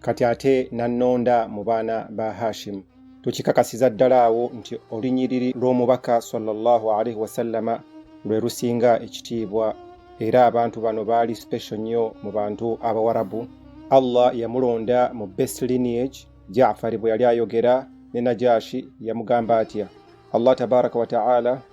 kati ate n'annonda mu baana ba Hashimu. Tukikakasiza ddala awo nti olunyiriri lw'omubaka sallallahu alaihi wasallama lwe lusinga ekitiibwa era abantu bano baali special nnyo mu bantu Abawarabu. Allah yamulonda mu best lineage. Jaafari bwe yali ayogera ne Najashi yamugamba atya? Allah tabaraka wa ta'ala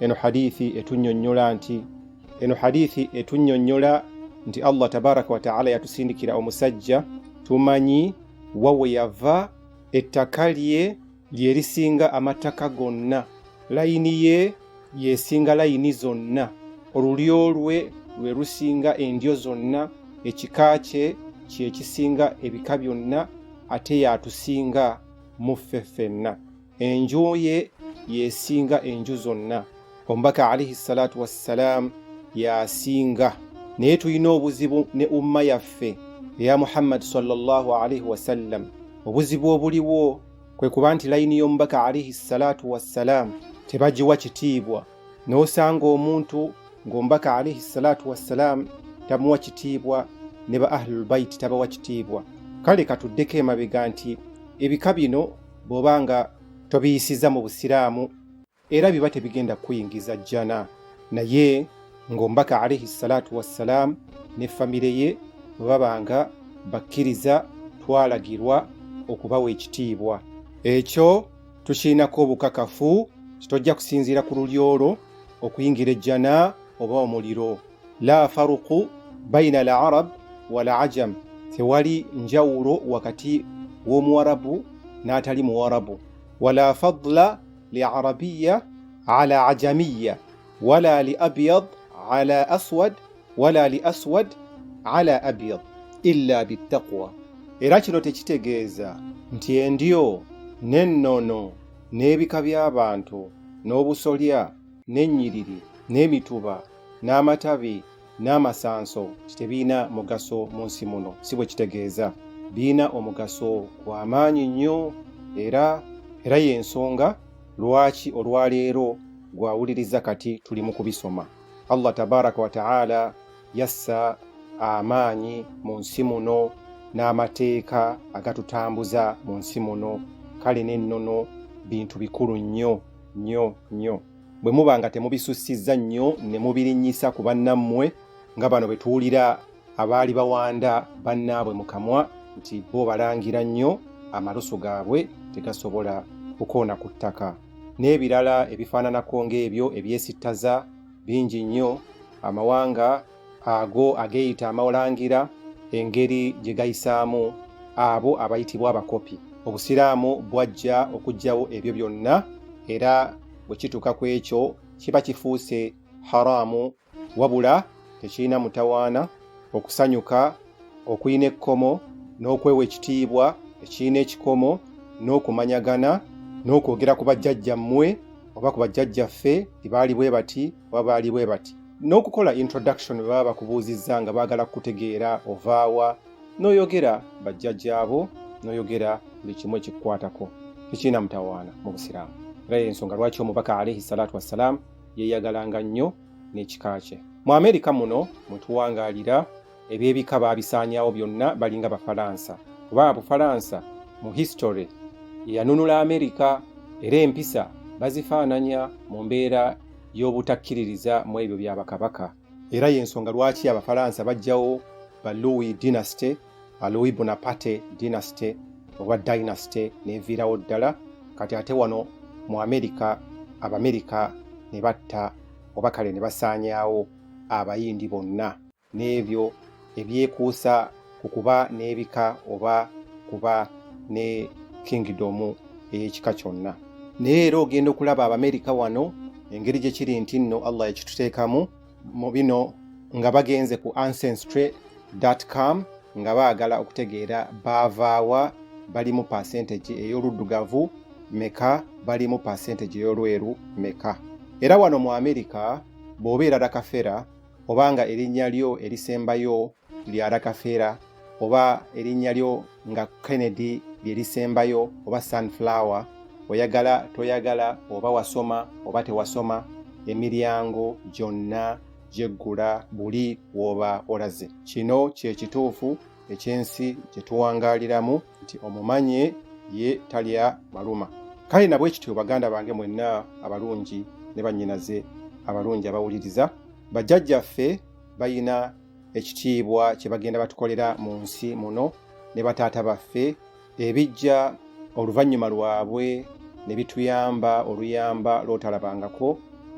eno hadithi etunyonyola nti eno hadithi etunyonyola nti Allah tabaraka wa taala yatusindikira omusajja tumanyi wawe yava ettaka lye lyerisinga amattaka gonna layini ye yesinga layini zonna olulyo lwe lwe lusinga endyo zonna ekika kye kyekisinga ebika byonna ate yatusinga muffe ffenna enju ye yesinga enju zonna omubaka alaihi salatu wassalam yasinga naye tulina obuzibu ne umma yaffe eya muhammadi salllah alaihi wasallam obuzibu obuliwo kwe kuba nti layini y'omubaka alaihi salatu wassalam tebagiwa kitiibwa n'osanga omuntu ng'omubaka alaihi salatu wassalam tamuwa kitiibwa ne ba ahlulbaiti tabawa kitiibwa kale katuddeko emabega nti ebika bino bw'oba nga tobiyisiza mu busiraamu era biba tebigenda kuyingiza jjana naye ng'ombaka alaihi salaatu wassalaamu ne famire ye bwe babanga bakkiriza twalagirwa okubawa ekitiibwa ekyo tukirinako obukakafu kitojja kusinziira ku lulyo lwo okuyingira ejjana oba omuliro la faruqu baina al arab wal ajam, tewali njawulo wakati w'omuwarabu n'atali muwarabu. Wala fadla li arabiya ala ajamiya wala li abyad ala aswad wala li aswad ala abyad illa bittaqwa, era kino tekitegeeza nti endyo n'ennono n'ebika by'abantu n'obusolya n'ennyiriri n'emituba n'amatabi n'amasanso tebirina mugaso mu nsi muno si bwe kitegeeza birina omugaso gwa maanyi nnyo era era y'ensonga lwaki olwaleero gwawuliriza kati tuli mu kubisoma allah tabaraka wataala yassa amaanyi mu nsi muno n'amateeka agatutambuza mu nsi muno kale n'ennono bintu bikulu nnyo nnyo nnyo bwe muba nga temubisussizza nnyo ne mubirinnyisa ku bannammwe nga bano be tuwulira abaali bawanda bannaabwe mu kamwa nti bo balangira nnyo amalusu gaabwe tegasobola kukoona ku ttaka n'ebirala ebifaananako ng'ebyo ebyesittaza bingi nnyo amawanga ago ageeyita amalangira engeri gye gayisaamu abo abayitibwa abakopi obusiraamu bwajja okugyawo ebyo byonna era bwe kituuka ku ekyo kiba kifuuse haraamu wabula tekirina mutawaana okusanyuka okulina ekkomo n'okwewa ekitiibwa ekirina ekikomo n'okumanyagana n'okwogera ku bajjajjammwe oba ku bajjajjaffe ibaali bwe bati wabaali bwe bati n'okukola introduction bwe baba bakubuuzizza nga baagala kukutegeera ovaawa n'oyogera bajjajjaabo n'oyogera buli kimu ekikukwatako tekirina mutawaana mu busiraamu era yensonga lwaki omubaka alaihi salaatu wassalaamu yeeyagalanga nnyo n'ekika kye mu amerika muno mwe tuwangaalira eby'ebika baabisaanyawo byonna balinga bafalansa kuba abufalansa mu history eyanunula amerika era empisa bazifaananya mu mbeera y'obutakkiririza mu ebyo bya bakabaka era y'ensonga lwaki abafalansa bajjawo ba louis dynasty ba louis bonaparte dynasty oba dynasty neviirawo ddala kati ate wano mu amerika abamerika ne batta oba kale ne basaanyaawo abayindi bonna n'ebyo ebyekuusa ku kuba n'ebika oba kuba ne kingidomu ey'ekika kyonna naye era ogenda okulaba abamerika wano engeri gye kiri nti nno allah yakituteekamu mu bino nga bagenze ku ancestry com nga baagala okutegeera baavaawa bali mu pasentage ey'oluddugavu meka bali mu pasentage ey'olweru meka era wano mu amerika bw'obeera dakafera oba nga erinnya lyo erisembayo lya rakafeera oba erinnya lyo nga kennedy lye lisembayo oba sunflower oyagala toyagala oba wasoma oba tewasoma emiryango gyonna gyeggula buli wooba olaze kino kye kituufu eky'ensi gye tuwangaaliramu nti omumanye ye talya maluma kale nabwe kityo baganda bange mwenna abalungi ne bannyinaze abalungi abawuliriza bajjajjaffe bayina ekitiibwa kye bagenda batukolera mu nsi muno ne bataata baffe ebijja oluvannyuma lwabwe ne bituyamba oluyamba lw'otalabangako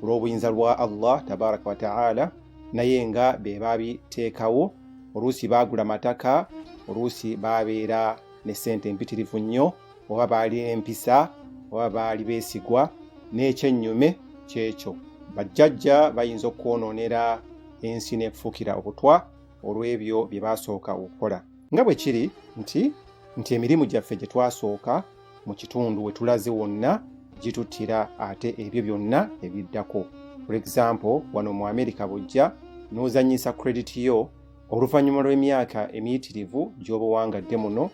olw'obuyinza lwa allah tabaraka wataala naye nga be babiteekawo oluusi baagula mataka oluusi baabeera ne ssente empitirivu nnyo oba baali empisa oba baali beesigwa n'ekyennyume kyekyo bajjajja bayinza okwonoonera ensi n'ekufuukira obutwa olw'ebyo bye baasooka okukola nga bwe kiri nti nti emirimu gyaffe gye twasooka mu kitundu we tulaze wonna gituttira ate ebyo byonna ebiddako for example wano mu amerika bujja n'ozannyisa credit yo oluvannyuma lw'emyaka emiyitirivu gy'oba owangadde muno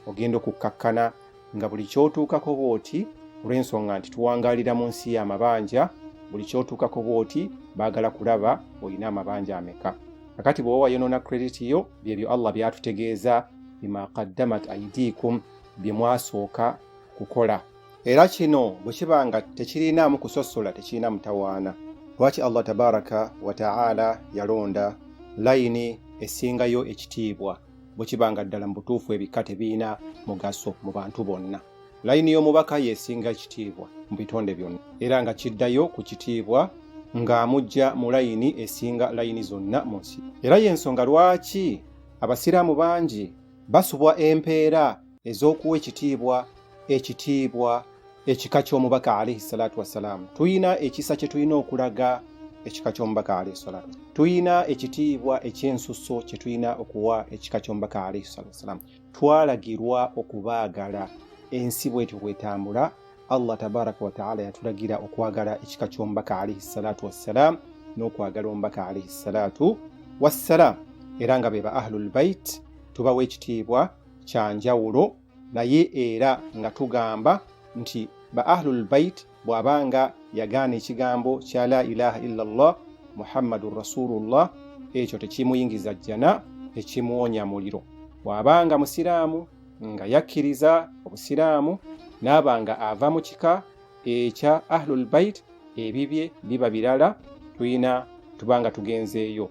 ogenda okukkakkana nga buli kyotuukako bw'oti olw'ensonga nti tuwangaalira mu nsi y'amabanja buli kyotuukako bw'oti baagala kulaba olina amabanja ameka kakati bw'oba wayonoona krediti yo byebyo allah byatutegeeza bima qaddamat aidiikum bye mwasooka kukola era kino bwe kiba nga tekirinaamu kusosola tekirina mutawaana lwaki allah tabaraka wataala yalonda layini esingayo ekitiibwa bwe kiba nga ddala mu butuufu ebika tebirina mugaso mu bantu bonna layini y'omubaka yesinga ekitiibwa mu bitonde byonna era nga kiddayo ku kitiibwa ng'amujja mu layini esinga layini zonna mu nsi era y'ensonga lwaki abasiraamu bangi basubwa empeera ez'okuwa ekitiibwa ekitiibwa ekika ky'omubaka alaihi salatu wassalaamu tulina ekisa kye tulina okulaga ekika ky'omubaka alaihi salatu tulina ekitiibwa ekyensusso kye tulina okuwa ekika ky'omubaka alaihi salatu wassalaamu twalagirwa okubaagala ensi bwetyo bwetambula allah tabaraka wataala yatulagira okwagala ekika ky'omubaka alaihi salatu wassalaamu n'okwagala omubaka alaihi salatu wassalaamu era nga be ba ahlulbait tubawa ekitiibwa kya njawulo naye era nga tugamba nti ba ahlul bait bw'aba nga yagaana ekigambo kya la ilaha illa llah muhammadun rasulullah ekyo tekimuyingiza jjana ekimuwonya muliro bw'aba nga musiraamu nga yakkiriza obusiraamu n'aba nga ava mu kika ekya ahlul bait ebibye biba birala tulina tuba nga tugenzeeyo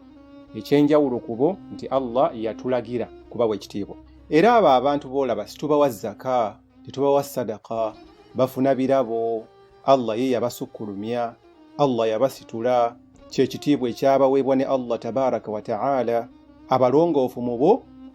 ekyenjawulo kubo nti allah yatulagira kubawa ekitiibwa era abo abantu boolaba situbawa zaka tetubawa sadaka bafuna birabo allah ye yabasukkulumya allah yabasitula kyekitiibwa ekyabaweebwa ne allah tabaraka wataala abalongoofu mu bo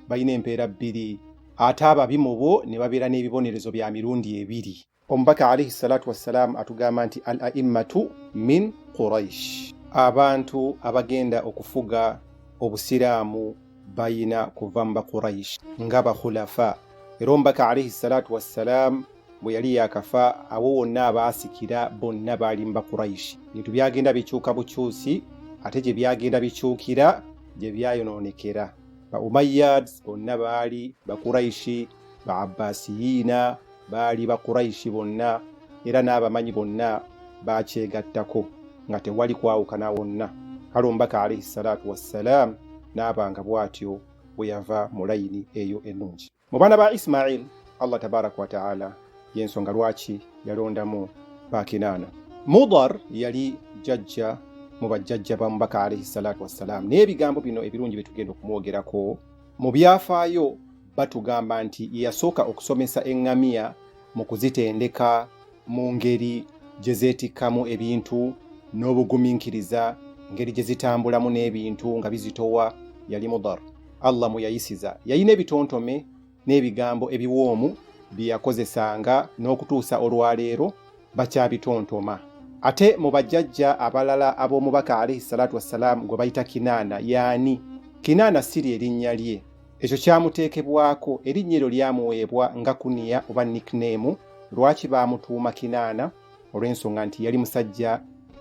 balina empeera bbiri ate ababi mu bo ne babeera n'ebibonerezo bya mirundi ebiri Omubaka alaihi salatu wassalaamu atugamba nti al aimmatu min Quraish, abantu abagenda okufuga obusiraamu bayina kuva mu Baquraish nga bakhulafa. Era omubaka alaihi salatu wassalaamu bwe yali yakafa awo wonna abaasikira bonna baali mu Baquraish. Ebintu byagenda bikyuka bukyusi, ate gye byagenda bikyukira gye byayonoonekera. Ba Umayyads bonna baali Baquraishi. ba abbasiyiina baali bakuraishi bonna era n'abamanyi bonna bakyegattako nga tewali kwawukana wonna kale omubaka alaihi salatu wassalaamu n'abanga bw'atyo bwe yava mu layini eyo ennungi mu baana ba isimail allah tabaraka wataala y'ensonga lwaki yalondamu bakinaana mudar yali jajja mu bajjajja ba mubaka alaihi salatu wassalaamu n'ebigambo bino ebirungi bye tugenda okumwogerako mu byafaayo batugamba nti ye yasooka okusomesa eŋŋamiya mu kuzitendeka mu ngeri gye zeetikkamu ebintu n'obugumiikiriza ngeri gye zitambulamu n'ebintu nga bizitowa yali mudar allah mwe yayisiza yalina ebitontome n'ebigambo ebiwoomu bye yakozesanga n'okutuusa olwaleero bakyabitontoma ate mu bajjajja abalala ab'omubaka alaihi salatu wassalaamu gwe bayita kinaana yaani kinaana si lye linnya lye ekyo kyamuteekebwako erinnya eryo lyamuweebwa nga kuniya oba nickname lwaki baamutuuma kinaana olw'ensonga nti yali musajja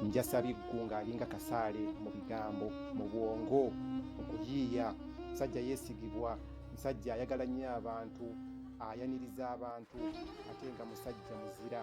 njasabiggu ng'alinga kasaale mu bigambo mu bwongo mu kuyiiya musajja yeesigibwa musajja ayagala nnyo abantu ayaniriza abantu ate nga musajja muzira